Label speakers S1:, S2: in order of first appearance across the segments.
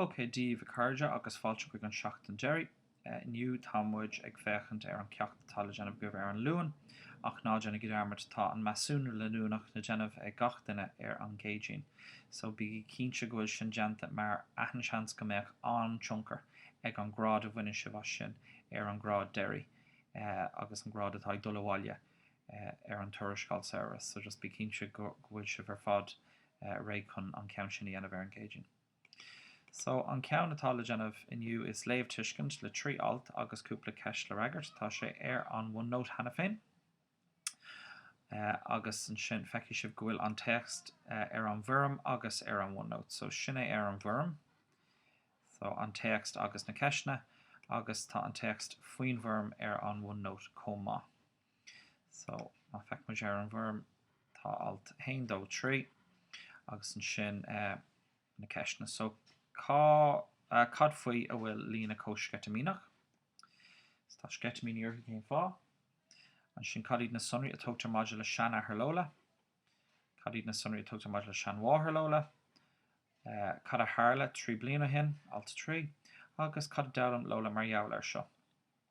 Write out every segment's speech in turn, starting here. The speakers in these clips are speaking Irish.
S1: OK Dia daoibh a chairde agus fáilte chuig an tseachtain deiridh. Inniu tá muid ag féachaint ar an ceacht atá le déanamh agaibh ar an Luan, ach ná déanaigí dearmad, tá an measúnú leanúnach le déanamh ag gach duine ar an gCéadaoin, so bígí cinnte go bhfuil sin déanta mar tá an-seans go mbeadh an-tionchar ag an grád a bhaineann sibh as sin ar an grád deiridh agus an grád atá ag dul abhaile ar an tuarascáil samhraidh, so just bí cinnte go bhfuil sibh ar fad réidh chun an ceann sin a dhéanamh ar an gCéadaoin. So, an ceann atá le déanamh inniu is léamh-tuiscint le trí alt agus cúpla ceist le freagairt, tá sé ar an OneNote cheana féin, agus ansin feicfidh sibh go bhfuil an téacs ar an bhfoirm agus ar an OneNote, so sin é ar an bhfoirm, so an téacs agus na ceisteanna, agus tá an téacs faoin bhfoirm ar an OneNote chomh maith. So, feicfimid ar an bhfoirm, tá alt 1, 2, 3 agus ansin na ceisteanna. So, cá, cad faoi a bhfuil Lola chomh sceitimíneach? So, tá sceitimíní uirthi, cén fáth? Ansin, cad iad na sonraí a tugtar maidir le seanathair Lola? Cad iad na sonraí a tugtar maidir le seanmháthair Lola? Cad a tharla trí bliana ó shin? alt 3, agus cad a d'fhoghlaim Lola mar gheall ar seo?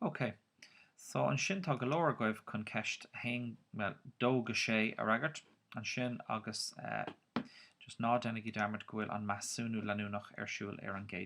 S1: OK, so ansin tá go leor agaibh chun ceist a haon, dó go sé a fhreagairt. Ansin, agus just ná déanaigí dearmad go bhfuil an measúnú leanúnach ar siúl ar an gcéad.